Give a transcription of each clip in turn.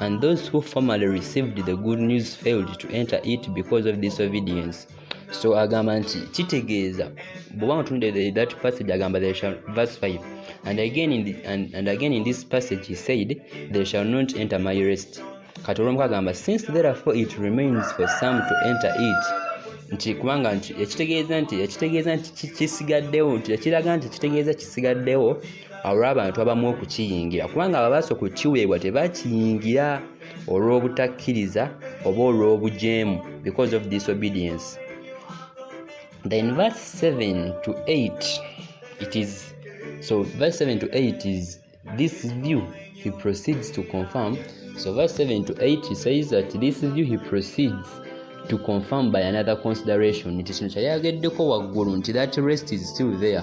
And those who formerly received the good news failed to enter it because of disobedience. So agamba nti kitegeeza bwoba mutunde that passage agamba they shall verse 5 and again in the, and, and again in this passage he said they shall not enter my rest kati olwomuka agamba since therefore it remains for some to enter it nti kubanga nti ekitegeeza nti ekitegeeza nti kisigaddewo nti ekiraga nti ekitegeeza kisigaddewo olw'abantu abamu okukiyingira kubanga ababaasa okukiweebwa tebakiyingira olw'obutakkiriza oba olw'obujeemu because of disobedience then verse 7 to 8 it is so verse 7 to 8 is this view he proceeds to confirm so verse 7 to 8 he says that this view he proceeds to confirm by another consideration nti kino kyali ageddeko waggulu nti that rest is still there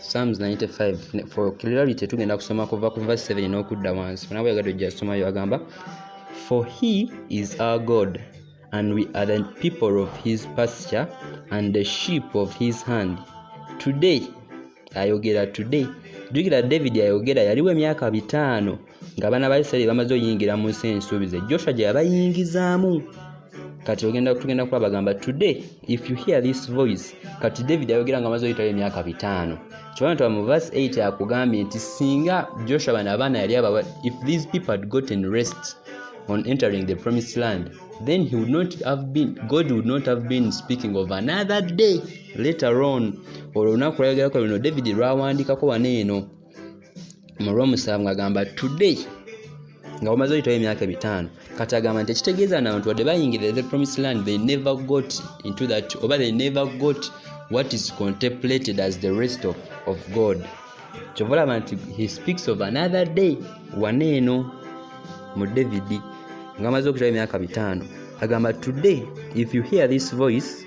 Psalms 95 for clarity tugenda kusoma kuva ku verse 7 n'okudda wansi funa bweyagadde ojja somayo agamba for he is our god and we are the people of his pasture and the sheep of his hand today ayogera today jukira david ayogera yaliwo emyaka bitaano nga abaana ba isirairi bamaze oyingira mu nsi ensuubize joshua gye yabayingizaamu kati ogenda tugenda kuba bagamba today if you hear this voice kati david ayogera nga amaze oyitayo emyaka bitaano kibona tuba mu verse 8 akugambye nti singa joshua bano abaana yali abawa if these people had gotten rest on entering the promised land then he would not have been god would not have been speaking of another day later on olwo olunaku lwayogerako luno david lwawandiikako wano eno mu lwomusanvu ng'agamba today nga bamaze oyitawo emyaka ebitaano kati agamba nti ekitegeeza nabantu wadde bayingirira the promise land they never got into that oba they never got what is contemplated as the rest of, of god kyova olaba nti he speaks of another day wana eno mu david nga amaze okutawo emyaka bitaano agamba today if you hear this voice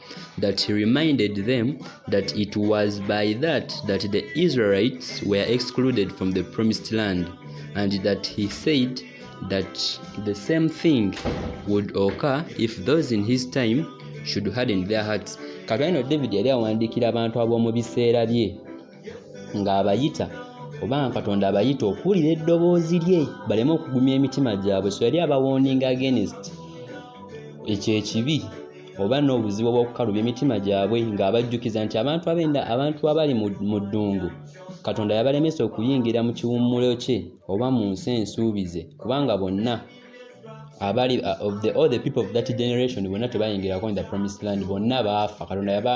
that he reminded them that it was by that that the Israelites were excluded from the promised land and that he said that the same thing would occur if those in his time should harden their hearts katwalino david yali awandiikira abantu ab'omu biseera bye ng'abayita oba nga katonda abayita okuwulira eddoboozi lye baleme okugumya emitima gyabwe so yali abawooninga against ekyo ekibi oba n'obuzibu obw'okukalubya emitima gyabwe ng'abajjukiza nti abantu abenda abantu abali mu ddungu katonda yabalemesa okuyingira mu kiwummulo kye oba mu nsi ensuubize kubanga bonna abali uh, of the, all the people of that generation bonna tebayingirako in the promised land bonna baafa katonda yaba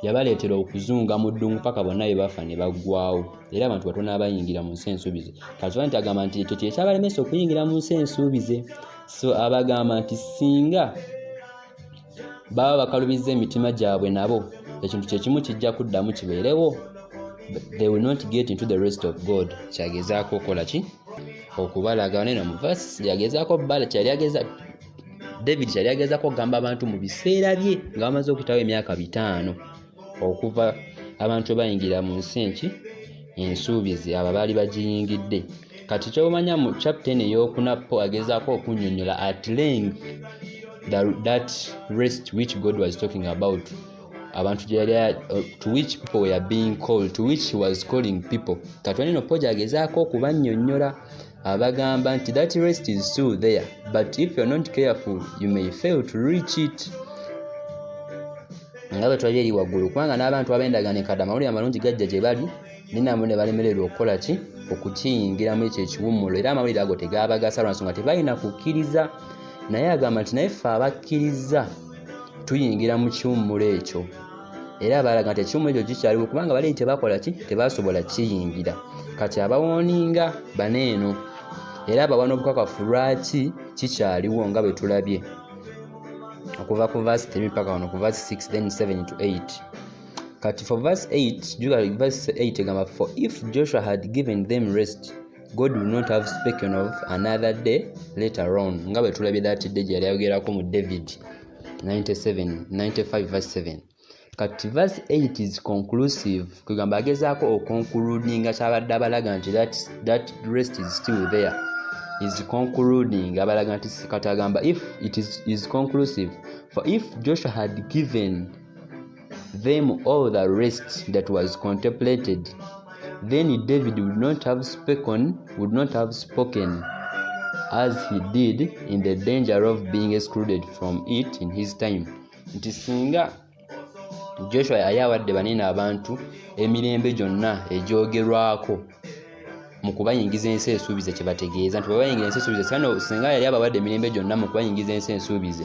yabaleetera okuzunga mu ddungu paka bonna be bafa ne baggwawo era abantu batono abayingira mu nsi ensuubize kakiba nti agamba nti ekyo kyekyabalemesa okuyingira mu nsi ensuubize so abagamba nti singa baba bakalubiza emitima gyabwe nabo ekintu kyekimu kijja kuddamu kibeerewo they will not get into the rest of god kyagezaako okola ki okubalaga neno mu vas yagezaako bala kyali ageza david kyali agezako okugamba abantu mu biseera bye nga bamaze okutawo emyaka bitaano okuva abantu ebayingira mu nsi enki ensuubizi abo baali bagiyingidde kati kyomanya mu chapten eyokuna po agezaako okunyonyola at length that rest which god was talking about abantu gyeyali to which people were being called to which he was calling people kati waneno po gyagezaako okubanyonyola abagamba nti that rest is still there but if you're not careful you may fail to reach it nga bwe twali eri waggulu kubanga n'abantu abendaga ne kada amawulire amalungi gajja gye bali ninamwe ne balemererwa okukola ki okukiyingiramu ekyo ekiwummulo era amawulire ago tegaabagasa lwa nsonga tebalina kukkiriza naye agamba nti naye ffe abakkiriza tuyingira mu kiwummulo ekyo era baalaga nti ekimu ekyo kikyaliwo kubanga bali tebakola ki tebasobola kiyingira kati abawooninga bana eno era abawa n'obukakafu lwaki kikyaliwo nga bwe tulabye okuva ku vasi 3 paka wano ku vasi 6 then 7 to 8 kati for vasi 8 juga vasi 8 egamba for if joshua had given them rest god will not have spoken of another day later on nga bwe tulabye that day gye yali ayogerako mu david 97 95 verse 7 kati verse 8 is conclusive kwegamba agezaako okonkuludinga kyabadde abalaga nti that, that rest is still there is concluding abalaga nti kati agamba if it is, is conclusive for if joshua had given them all the rest that was contemplated, then David would not have spoken, would not have spoken as he did in the danger of being excluded from it in his time. Nti singa Joshua yali awadde banene abantu emirembe gyonna egyogerwako mu kubayingiza ensi ensuubize kye bategeeza nti bwe bayingira ensi ensuubize singa yali abawadde emirembe gyonna mu kubayingiza ensi ensuubize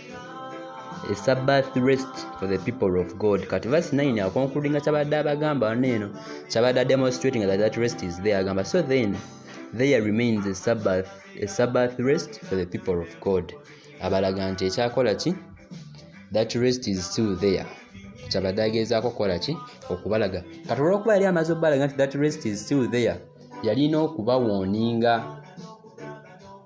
a sabbath rest for the people of god kati verse 9 akonkululinga kyabadde abagamba wano eno kyabadde ademonstrating that that rest is there agamba so then there remains a sabbath, a sabbath rest for the people of god abalaga nti ekyakola ki that rest is still there kyabadde ageezaako okukola ki okubalaga kati olwokuba yali amaze okubalaga nti that rest is still there yalina okubawoninga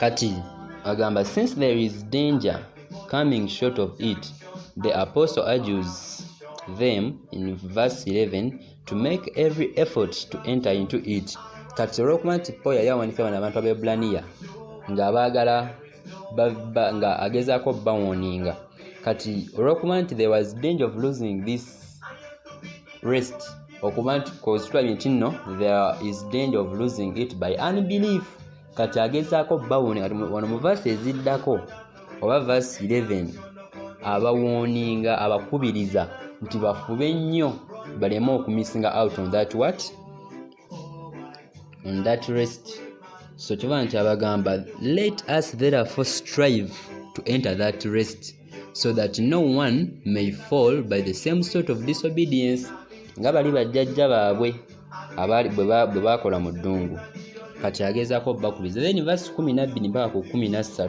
kati agamba since there is danger coming short of it the apostle argues them in verse 11 to make every effort to enter into it kati olwokuba nti paul yali awanika bano abantu abebulaniya ng'abaagala nga agezaako bawoninga kati olwokuba nti there was danger of losing this rest okuba nti kozitulabye nti nno there is danger of losing it by unbelief kati agezaako bawoni kati wano mu vasi eziddako oba vasi 11 abawoninga abakubiriza nti bafube nnyo baleme okumisinga out on that what on that rest so kiba nti abagamba let us therefore strive to enter that rest so that no one may fall by the same sort of disobedience nga bali bajjajja baabwe bwe baakola mu ddungu kati agezaako bakubiza then vasi 12 mpaka ku 13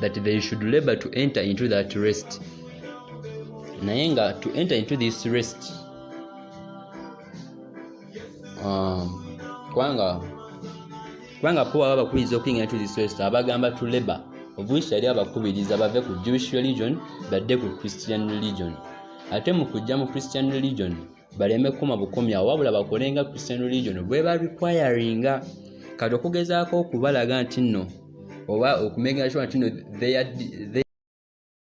that they should labor to enter into that rest naye nga to enter into this rest um, kubanga kubanga po baba bakubiriza okuyingira into this rest abagamba to labor of which yali abakubiriza bave ku jewish religion badde ku christian religion ate mu kujja mu christian religion baleme kukoma bukomi awo wabula bakole nga christian religion bweba requiringa kati okugezaako okubalaga nti nno oba okumegera kiwa nti nno